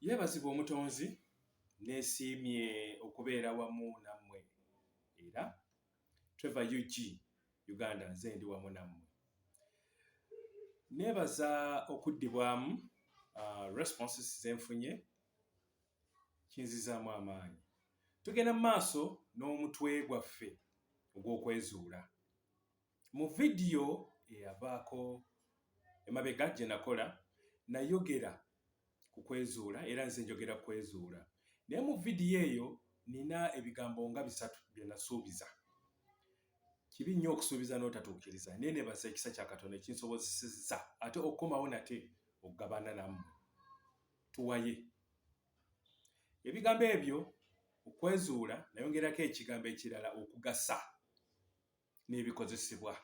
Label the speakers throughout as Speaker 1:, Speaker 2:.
Speaker 1: yeebazibwa omutonzi nesiimye okubeera wamu nammwe era treve ug uganda nze ndi wamu nammwe neebaza okuddibwamu uh, responses zenfunye kinzizaamu amaanyi tugenda mu maaso n'omutwe gwaffe ogw'okwezuula Mu vidiyo eyavaako emabega gye nakola nayogera ku kwezuula era nze njogera kwezuula naye mu vidiyo eyo nina ebigambo nga bisatu bye nasuubiza. Kibi nnyo okusuubiza n'otatuukiriza naye nebaza ekisa kya Katonda ekinsobozesezza ate okukomawo nate okugabana namu tuwaye ebigambo ebyo okwezuula nayongerako ekigambo ekirala okugasa. n'ebikozesebwa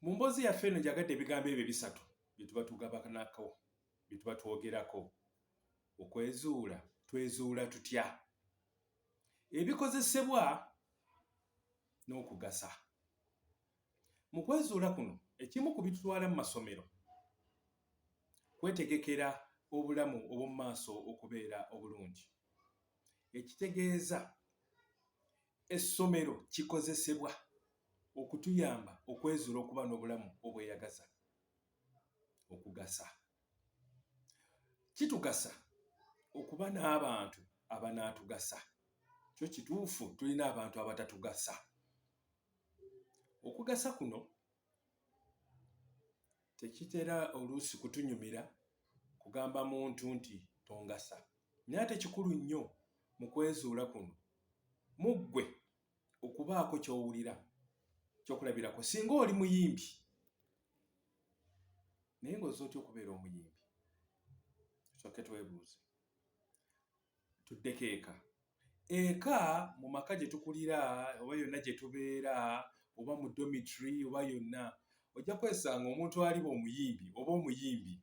Speaker 1: mu mboozi yaffe eno njagadde ebigambo ebyo bisatu bye tuba tugabanako bye tuba twogerako okwezuula twezuula tutya ebikozesebwa n'okugasa mu kwezuula kuno ekimu ku bitutwala mu masomero kwetegekera obulamu obw'omu maaso okubeera obulungi ekitegeeza Essomero kikozesebwa okutuyamba okwezuula okuba n'obulamu obweyagaza okugasa. Kitugasa okuba n'abantu abanaatugasa. Kyo kituufu tulina abantu abatatugasa. Okugasa kuno tekitera oluusi kutunyumira kugamba muntu nti tongasa naye ate kikulu nnyo mu kwezuula kuno mu ggwe okubaako ky'owulira kyokulabirako singa oli muyimbi naye ng'oza otya okubeera omuyimbi soke twebuuze tuddeko eka eka mu maka gye tukulira oba yonna gye tubeera oba mu domitry oba yonna ojja kwesanga omuntu aliba omuyimbi oba omuyimbi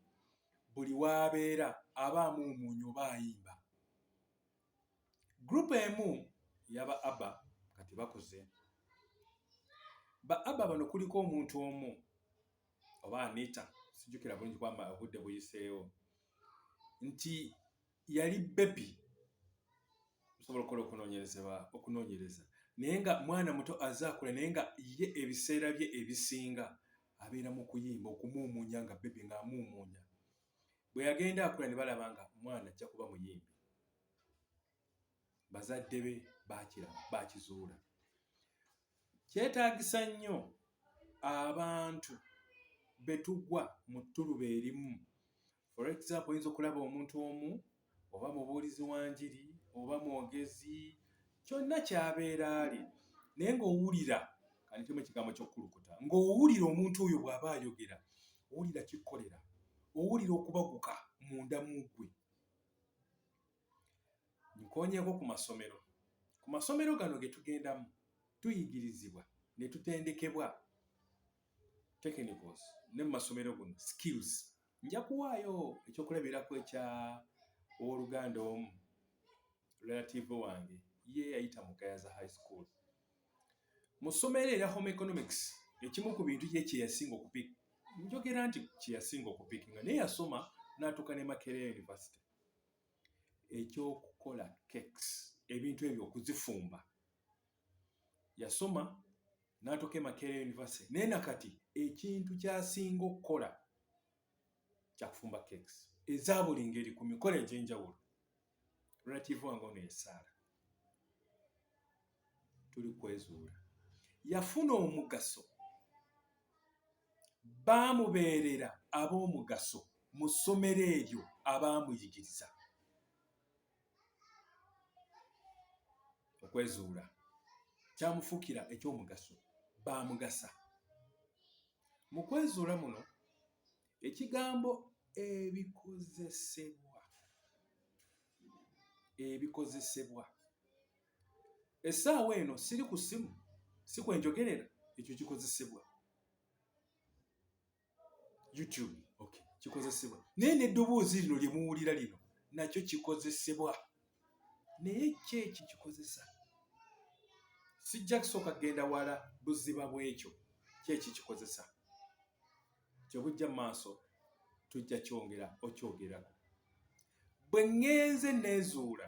Speaker 1: buli waabeera aba amuumuunya oba ayimba gurupu emu yaba aba kati bakuze ba aba bano kuliko omuntu omu oba anita sijukira bulungi kwamba obudde buyiseewo nti yali bebi osobola okukola okunonyerezeba okunonyereza naye nga mwana muto azaakula naye nga ye ebiseera bye ebisinga abeera mu kuyimba okumuumuunya nga bebi ng'amuumuunya bwe yagenda akula ne balaba nga mwana ajja kuba muyimbi bazadde be bakira bakizuula kyetaagisa nnyo abantu betugwa mu ttuluba erimu For example, oyinza okulaba omuntu omu oba mubuulizi wa njiri oba mwogezi kyonna kyabeera ali naye ng'owulira kanitemu ekigambo ky'okukulukuta ng'owulira omuntu oyo bw'aba ayogera owulira kikkolera owulira okubaguka munda mu ggwe nkonyeeko ku masomero ku masomero gano ge tugendamu tuyigirizibwa ne tutendekebwa technicals ne mu masomero guno skills Nja kuwaayo ekyokulabirako ekya ow'oluganda omu relative wange ye yayita mu Gayaza High School. Mu ssomo era era home economics ekimu ku bintu ye kye yasinga okupik njogera nti kye yasinga okupik nga naye yasoma n'atuuka ne Makerere University ekyokukola cakes ebintu ebyo okuzifumba yasoma n'atuuka e makerere university naye na kati ekintu kyasinga okukola kyakufumba cakes eza buli ngeri ku mikolo egy'enjawulo relative wange ono yesaala tuli kwezuula yafuna omugaso baamubeerera ab'omugaso mu ssomero eryo abaamuyigiriza okwezuula kyamufuukira eky'omugaso baamugasa mu kwezuula muno ekigambo ebikozesebwa ebikozesebwa essaawa eno siri ku ssimu si kwenjogerera ekyo kikozesebwa youtube okay kikozesebwa naye n'eddoboozi lino lye muwulira lino nakyo kikozesebwa naye ki eki kikozesa sijja kusooka kugenda wala buziba bw'ekyo ki eki kikozesa kyebujja mu maaso tujja kyongera okyogerako bwe ŋŋenze neezuula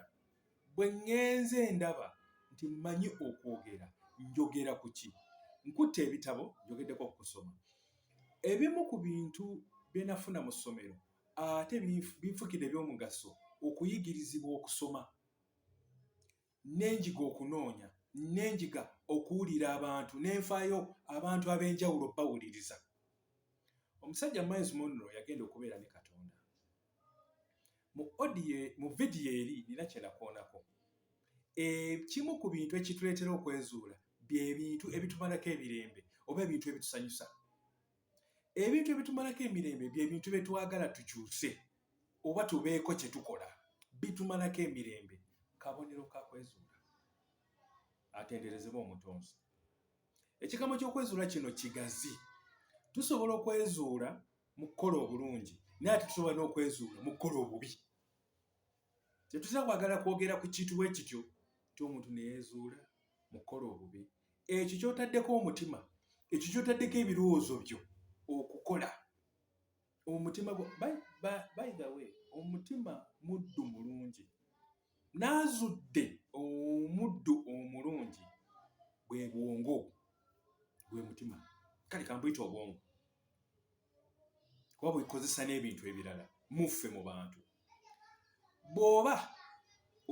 Speaker 1: Bwe ŋŋenze ndaba nti mmanyi okwogera, njogera ku ki? Nkutte ebitabo, njogeddeko ku kusoma. Ebimu ku bintu bye nafuna mu ssomero ate binfukidde eby'omugaso okuyigirizibwa okusoma ne njiga okunoonya ne njiga okuwulira abantu ne nfaayo abantu ab'enjawulo bawuliriza. Omusajja Miles Monroe yagenda okubeera ne Katonda. mu audio mu vidiyo eri nina kyenakoonako ekimu ku bintu ekituleetera okwezuula bye bintu ebitumalako ebirembe oba ebintu ebitusanyusa ebintu ebitumalako emirembe bye bintu bye twagala tukyuse oba tubeeko kye tukola bitumalako emirembe kabonero ka kwezuula atenderezebwa omutonzi ekigambo ky'okwezuula kino kigazi tusobola okwezuula mu kukola obulungi naye ate tusobola n'okwezuula mu kukola obubi tetuza kwagala kwogera ku kintu bwe kityo nti omuntu neyezuula mu kukola obubi ekyo kyotaddeko omutima ekyo kyotaddeko ebirowoozo byo okukola omutima by the way omutima muddu mulungi n'azudde omuddu omulungi bwe bwongo gwe mutima kale kambuyita obwongo kuba bwekozesa n'ebintu ebirala muffe mu bantu bw'oba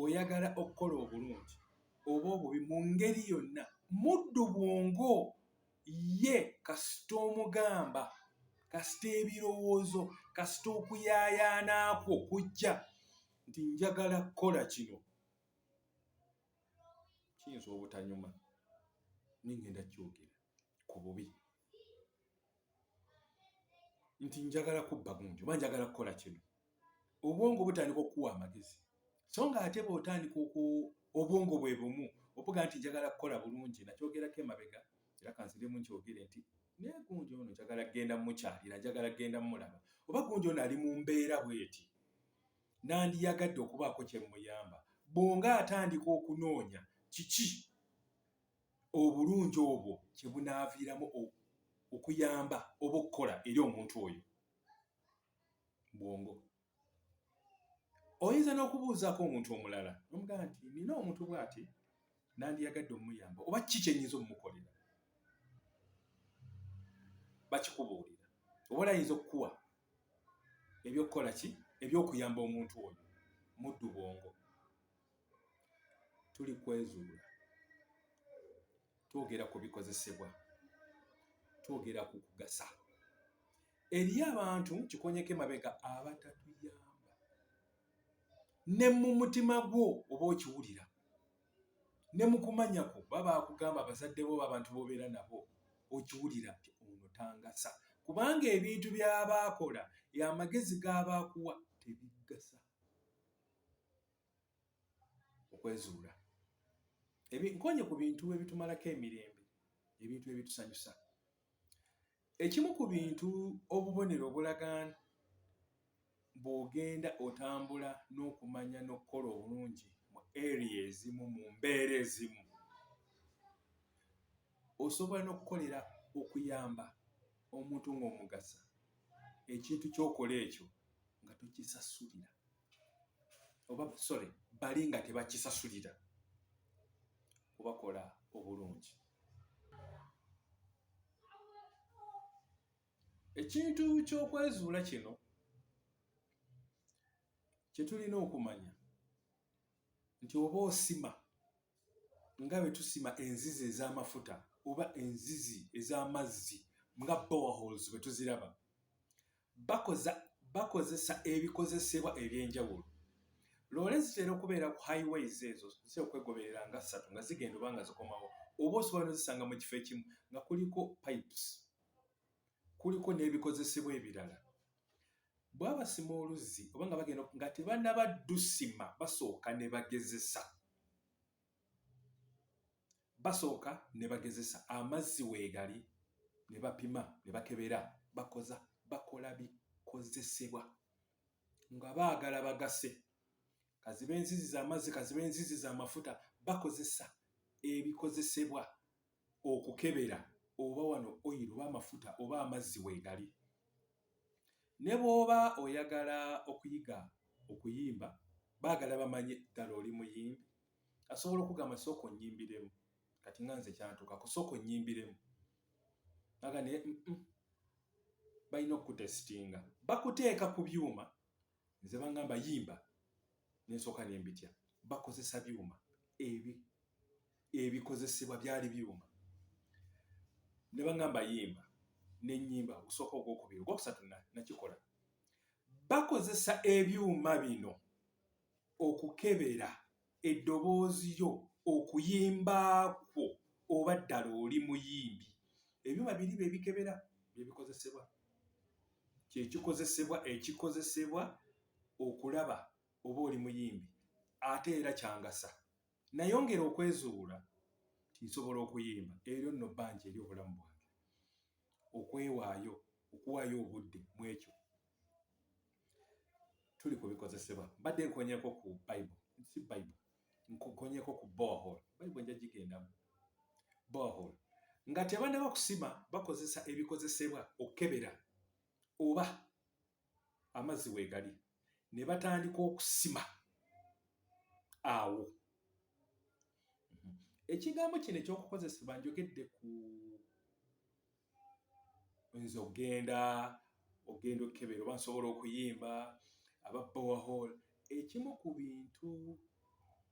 Speaker 1: oyagala okukola obulungi oba obubi mu ngeri yonna muddu bwongo ye kasita omugamba kasita ebirowoozo kasita okuyaayaanaakwo kujja nti njagala kukola kino kiyinza obutanyuma nengenda kyogera ku bubi nti njagala kubba gunju oba njagala kukola kino obwongo butandika okukuwa amagezi so nga ate bwotandika obwongo bwe bumu obuga nti njagala kukola bulungi nakyogerako emabega era kanziremu nkyogere nti naye gunju ono njagala kugenda mukyalira njagala kugenda mulaba oba gunju ono ali mu mbeera bweti nandiyagadde okubaako kye mmuyamba bwonga atandika okunoonya kiki obulungi obwo kye bunaaviiramu okuyamba oba okukola eri omuntu oyo bwongo oyinza n'okubuuzaako omuntu omulala nomugamba nti nina omuntu bwati nandiyagadde omuyamba oba kiki kyenyinza omumukolera bakikubuulira oba olayinza okukuwa ebyokukola ki ebyokuyamba omuntu oyo muddu bwongo tuli kwezuula twogera ku bikozesebwa twogera ku kugasa eriyo abantu kikonyeko emabega abatatuyamba ne mu mutima gwo oba okiwulira ne mu kumanya kwo baba akugamba abazadde bo abantu bobeera nabo okiwulira nti ono tangasa kubanga ebintu byaba akola amagezi gaba akuwa tebigasa okwezuula nkonye ku bintu ebitumalako emirembe ebintu ebitusanyusa Ekimu ku bintu obubonero obulaga bw'ogenda otambula n'okumanya n'okukola obulungi mu area ezimu mu mbeera ezimu, osobola n'okukolera okuyamba omuntu ng'omugasa ekintu ky'okola ekyo nga tokisasulira oba sorry bali nga tebakisasulira kubakola obulungi. ekintu ky'okwezuula kino kye tulina okumanya nti oba osima nga bwe tusima enzizi ez'amafuta oba enzizi ez'amazzi nga bowaholes bwe tuziraba Bakoza bakozesa ebikozesebwa eby'enjawulo. Loole zitera okubeera ku highways ezo zitera okwegoberera nga ssatu nga zigenda oba nga zikomawo oba osobola nozisanga mu kifo ekimu nga kuliko pipes kuliko n'ebikozesebwa ebirala bwabasima oluzzi oba nga bagenda nga tebanaba dusima basooka ne bagezesa. basooka ne bagezesa amazzi weegali ne bapima ne bakebera bakoza bakola bikozesebwa nga baagala bagase kaziba enzizi z'amazzi kaziba enzizi z'amafuta bakozesa ebikozesebwa okukebera oba wano oil oba amafuta oba amazzi weegali. Ne bw'oba oyagala okuyiga okuyimba baagala bamanye ddala oli muyimbi. Asobola okugamba sooka onnyimbiremu kati nga nze kyantuukako sooka onnyimbiremu aga naye mm, mm. balina okukutesitinga bakuteeka ku byuma nze bangamba yimba nensooka nembitya bakozesa byuma ebi ebikozesebwa byali byuma ne bangamba yimba nenyimba ogusooka ogwokubiri ogwokusatu nakikola bakozesa ebyuma bino okukebera Eddoboozi lyo, okuyimba kwo oba ddala oli muyimbi? Ebyuma biri bye bikebera bye bikozesebwa. Kye kikozesebwa ekikozesebwa okulaba oba oli muyimbi ate era kyangasa. Nayongera okwezuula nti nsobola okuyimba eryo nno bbanja eri obulamu bwange. Okwewaayo, okuwaayo obudde mu ekyo tuli ku bikozesebwa mbadde nkonyeko ku bible si bible nkonyeko ku bohol bible nja gigendamu bohol nga tebanaba kusima bakozesa ebikozesebwa okukebera oba amazzi wegali ne batandika okusima awo ekigambo kino ekyokukozesebwa njogedde ku oyinza okugenda okugenda okukebera oba nsobola okuyimba aba bowahol ekimu ku bintu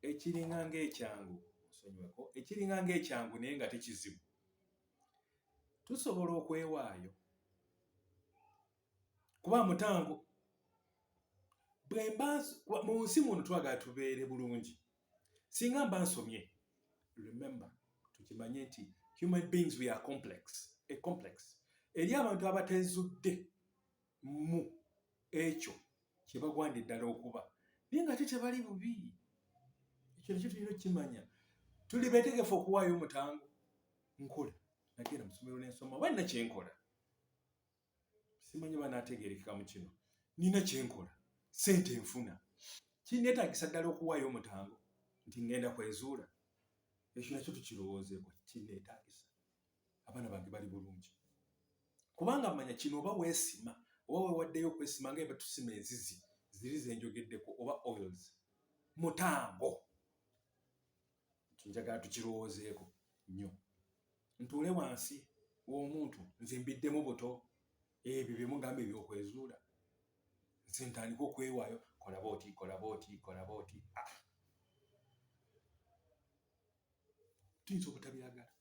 Speaker 1: ekiringa ngaekyangu nsonyiweko ekiringa ngaekyangu naye nga tekizibu tusobola okwewaayo kuba mutango bwemba mu nsi muno twagala tubeere bulungi singa mba nsomye remember tukimanye nti human beings we are complex a complex eri abantu abatezudde mu ekyo kyebagwanda eddala okuba naye nga te tebali bubi ekyo nekyo tulina okukimanya tuli betegefu okuwaayo omutango nkola nagenda musomero nensoma oba nina kyenkola simanyi banategerekeka mu kino nina kyenkola sente enfuna kinetagisa ddala okuwaayo omutango nti ngenda kwezuula ekyo nakyo tukirowoozeeko kinetagisa abaana bange bali bulungi kubanga manya kino oba weesima oba wewaddeyo okwesima nga ebatusima enzizi ziri zenjogeddeko oba oils mutango njagala tukirowoozeeko nnyo ntuule wansi w'omuntu nze mbiddemu buto ebyo bye mugamba ebyokwezuula nze ntandika okwewaayo kolaba oti kolaba oti kolaba oti ah. tuyinza obutabiragala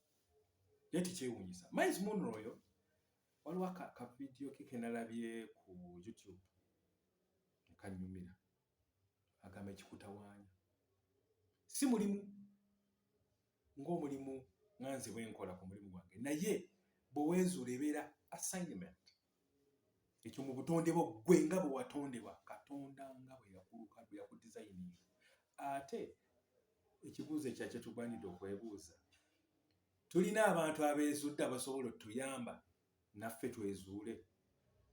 Speaker 1: naye tekyewuunyisa miles munro oyo waliwo akavidiyo ke kenalabye ku youtube nekanyumira agamba ekikutawaanya si mulimu ng'omulimu nga nze bwe nkola ku mulimu gwange naye bwe weezuula ebeera assignment ekyo mu butonde bwo ggwe nga bwe watondebwa katonda nga bwe yakuluka bwe yakudizayininga ate ekibuuzo ekya kye tugwanidde okwebuuza tulina abantu abeezudde abasobola otuyamba naffe twezuule.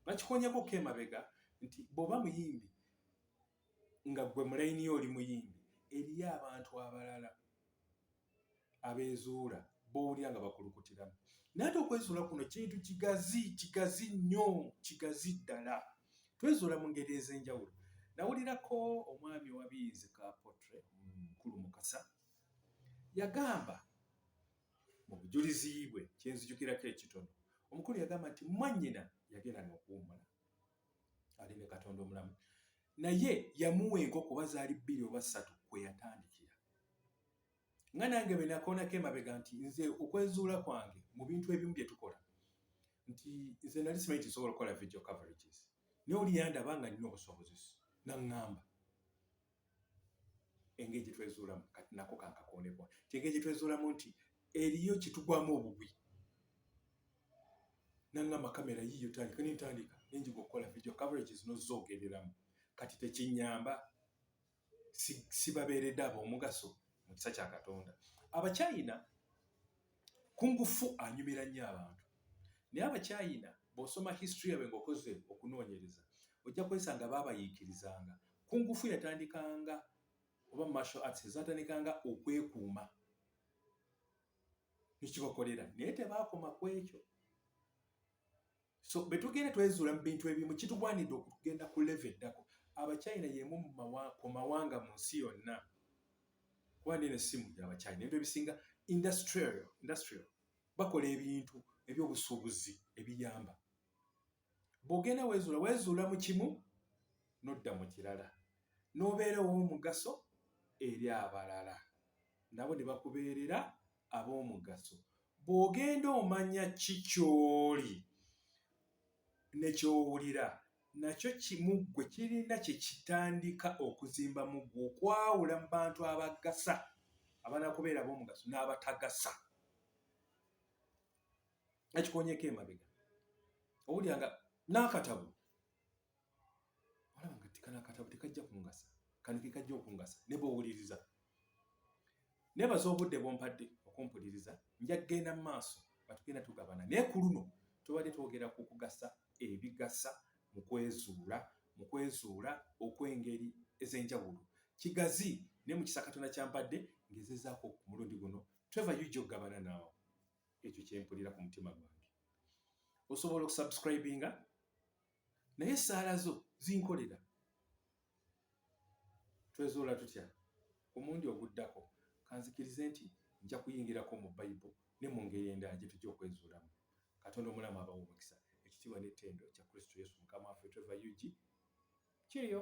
Speaker 1: Bakikonyeko ko emabega nti bwoba muyimbi nga gwe mulayini yo oli muyimbi eriyo abantu abalala abezuula bowulira nga bakulukutiramu naye ate okwezuula kuno kintu kigazi kigazi nnyo kigazi ddala twezuula mu ngeri ez'enjawulo nawulirako omwami owabiyizi ka potre mukulu mukasa yagamba Mu bujulizi bwe kye nzijukirako ekitono, omukulu yagamba nti mwannyina yagenda n'okuwummula ali ne Katonda omulamu, naye yamuwa enkoko oba zaali bbiri oba ssatu kwe yatandikira. Nga nange bwe nakoonako emabega nti nze okwezuula kwange mu bintu ebimu bye tukola nti nze nali simanyi nti nsobola okukola video coverages, naye oli yandaba nga nina obusobozi naŋŋamba engeri gye twezuulamu kati nako kankakooneko nti engeri gye twezuulamu nti eriyo kitugwamu obubi nangamba kamera yiyo tandika nentandika nenjiga okukola video coverage zino zogereramu kati tekinyamba sibabeeredde abo omugaso mu kisa kya katonda abachina Kungufu anyumira nnyo abantu naye Abachayina bw'osoma history yaabwe ng'okoze okunoonyereza ojja kwesanga baabayiikirizanga. Kungufu yatandikanga oba martial arts ezaatandikanga okwekuuma ne kibakolera naye tebaakoma ku ekyo. so betugenda twezuula mu bintu ebimu kitugwanidde okugenda ku leve eddako abachina yemu ku mawanga mu nsi yonna kuba nene simu gyabachina ebintu ebisinga industrial industrial bakola ebintu ebyobusuubuzi ebiyamba bwogenda wezuula wezuula mu kimu nodda mu kirala nobeerawo omugaso eri abalala nabo ne bakubeerera ab'omugaso bw'ogenda omanya ki ky'oli ne ky'owulira nakyo kimu ggwe kirina kye kitandika okuzimba mu ggwe okwawula mu bantu abagasa abanakubeera ab'omugaso n'abatagasa ekikonyeko emabega owulira nga n'akatabo olaba nga tikano akatabo tekajja kungasa kano kekajja okungasa ne bwowuliriza nebaza obudde bwompadde okumpuliriza nja kugenda mu maaso nga tugenda tugabana naye ku luno tubadde twogera ku kugasa ebigasa mu kwezuula mu kwezuula okw'engeri ez'enjawulo kigazi naye mu kisa katonda kyampadde ngezezaako ku mulundi guno tweva yuja okugabana naawe ekyo kyempulira ku mutima gwange osobola okusubscribinga naye essaala zo zinkolera twezuula tutya ku mundi oguddako kanzikirize nti nja kuyingirako mu bayibo ne mu ngeri endala gye tujja okwezuulamu katonda omulamu abawo omukisa ekitiibwa n'ettendo kya kristo yesu mukama waffe trevor ug kiriyo